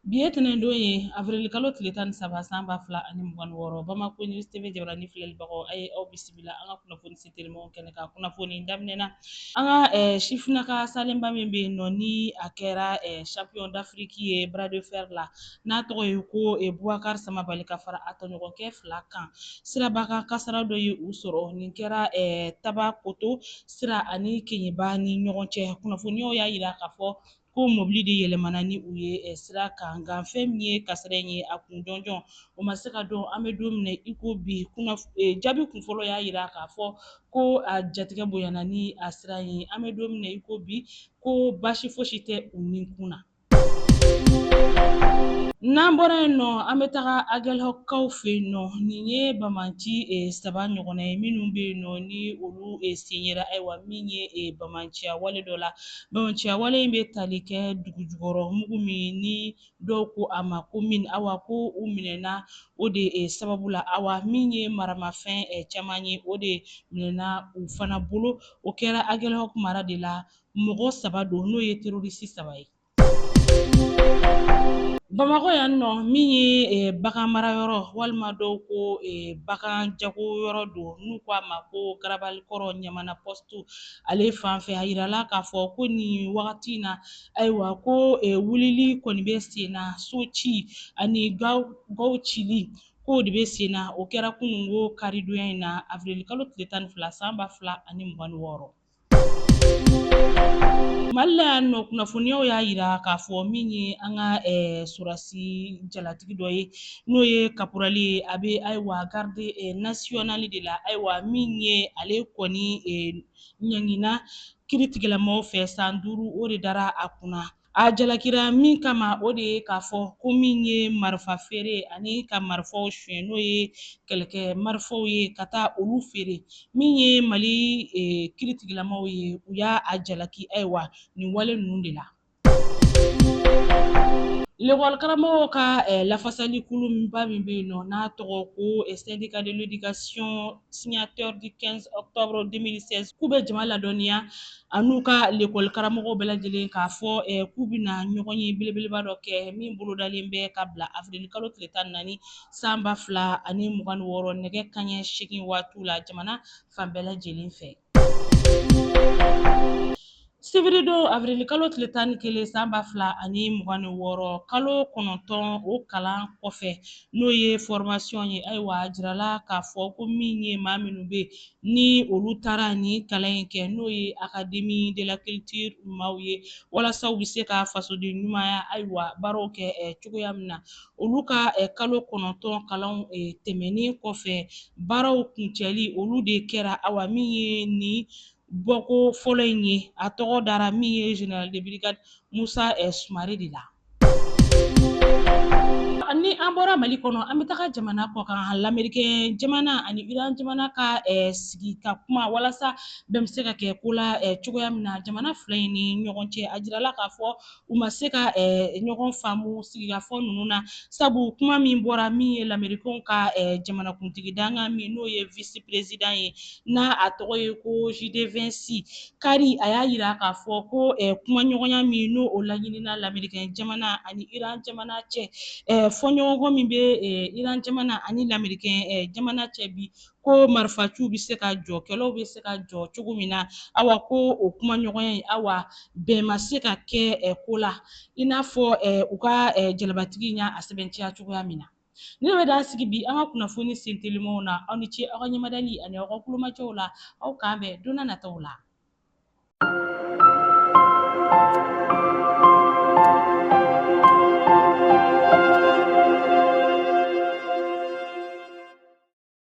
Bi ye tɛnɛndon ye avrilkalo tile tan ni saba san ba fila ani mugan ni wɔɔrɔ bamakɔ news TV jabaranin filɛlibagaw a ye aw bisimila an ka kunnafoni se telimanw kɛnɛ kan kunnafoni daminɛ na an ka eh, sifinaka salenba min bɛ yen nɔ ni a kɛra eh, champion d'afriki ye bras de fer la n'a tɔgɔ ye ko eh, bubakar samabali ka fara a tɔɲɔgɔnkɛ fila kan siraba kan kasara dɔ ye u sɔrɔ nin kɛra eh, tabakoto sira ani keɲeba ni ɲɔgɔn cɛ kunnafoniyaw y'a jira k'a fɔ ko mobili de yɛlɛmana ni u ye eh, sira kan nka fɛn min ye kasara in ye a kun jɔnjɔn o ma se ka dɔn an bɛ don min na i ko bi eh, jaabi kun fɔlɔ y'a jira k'a fɔ ko a jatigɛ bonyana ni a sira ye an bɛ don min na i ko bi ko baasi fosi tɛ u ni kun na n'an bɔra yen nɔ an bɛ taga agɛlhɔkkaw fɛ yen nɔ nin ye bamanci eh, saba ɲɔgɔnna ye minnu bɛ yen nɔ ni olu eh, sen yera ayiwa min ye eh, bamanciya wale dɔ la Bamanciya wale in bɛ tali kɛ dugu jukɔrɔ mugu min ni dɔw ko a ma ko mini awa ko u minɛna o de sababu la awa min ye maramafɛn caman ye o de minɛna u fana bolo o kɛra agɛlhɔk mara de la mɔgɔ saba don n'o ye terorisi saba ye bamakɔ yan nɔ min ye bagan mara yɔrɔ walima dɔw ko bagan jago yɔrɔ don n'u ko a ma ko garabali kɔrɔ ɲa to ale fan fɛ a yirala k'a fɔ ko nin wagati in na ayiwa ko e, wulili kɔni bɛ sen na so ci ani gaw gaw cili k'o de bɛ sen na o kɛra kununko karidonya in na avirilikalo tile tan ni fila san ba fila ani mugan ni wɔɔrɔ mali la yan nɔ kunnafoniyaw y'a yira k'a fɔ min ye an ka eh, sɔrɔdasi jalatigi dɔ ye n'o ye kaporali ye a bɛ ayiwa garde eh, nasiyɔnali de la ayiwa min ye ale kɔni eh, ɲangina kiiritigɛlamɔgɔw fɛ san duuru o de dara a kunna a jalakira min kama o de ye k'a fɔ ko min ye marifa feere ani ka marifaw suɲɛ n'o ye kɛlɛkɛ marifaw ye ka taa olu feere min ye mali eh, kiiritigɛlamɔgɔw ye u y'a a jalaki ayiwa nin wale ninnu de la Karamɔgɔw ka lafasali kuluba min bɛ yen nɔ n'a tɔgɔ ko syndicat de l'éducation signataire du 15 octobre 2016 k'u bɛ jama ladɔnniya an'u ka lekɔli karamɔgɔw bɛɛ lajɛlen k'a fɔ k'u bɛ na ɲɔgɔn ye belebeleba dɔ kɛ min bolodalen bɛ ka bila avirilikalo tile tan ni naani san ba fila ani mugan ni wɔɔrɔ nɛgɛ kanɲɛ segin waati la jamana fan bɛɛ lajɛlen fɛ Sibiridon awirili kalo tile tan ni kelen san ba fila ani mugan ni wɔɔrɔ kalo kɔnɔntɔn o kalan kɔfɛ n'o ye formation ye ayiwa a jirala k'a fɔ ko min ye maa minnu bɛ ni olu taara ni kalan in kɛ n'o ye académie de la culture maaw ye walasa u bɛ se ka fasoden ɲumanya ayiwa baaraw kɛ cogoya min na olu ka kalo kɔnɔntɔn kalanw tɛmɛnen kɔfɛ baaraw kuncɛli olu de kɛra awa min ye nin bɔko fɔlɔ in ye a tɔgɔ dara min ye général de brigade musa sumare de la ni an bɔra mali kɔnɔ an bɛ taga jamana kɔkan lamerikɛn jamana ani iran jamana ka sigi ka kuma walasa bɛn bɛ se ka kɛ ko la cogoya min na jamana fila in ni ɲɔgɔn cɛ a jirala k'a fɔ u ma se ka ɲɔgɔn faamu sigikafɔ ninnu na sabu kuma min bɔra min ye lamerikɛnw ka jamanakuntigi dankan min n'o ye vice-président ye n'a a tɔgɔ ye ko JD Vance kari a y'a yira k'a fɔ ko kumaɲɔgɔnya min n'o o laɲinina lamerikɛn jamana ani iran jamana cɛ fɔɲɔgɔnkɔ min bɛ iran jamana ani lamerikɛn jamana cɛ bi ko marifaciw bɛ se ka jɔ kɛlɛw bɛ se ka jɔ cogo min na awa ko o kumaɲɔgɔnya in awa bɛn ma se ka kɛ ko la i n'a fɔ u ka jalabatigi in y'a sɛbɛntiya cogoya min na nin de bɛ dan sigi bi an ka kunnafoni sentelimanw na aw ni ce aw ka ɲɛmadali ani aw ka kulomajɔw la aw k'an bɛn donna nataw la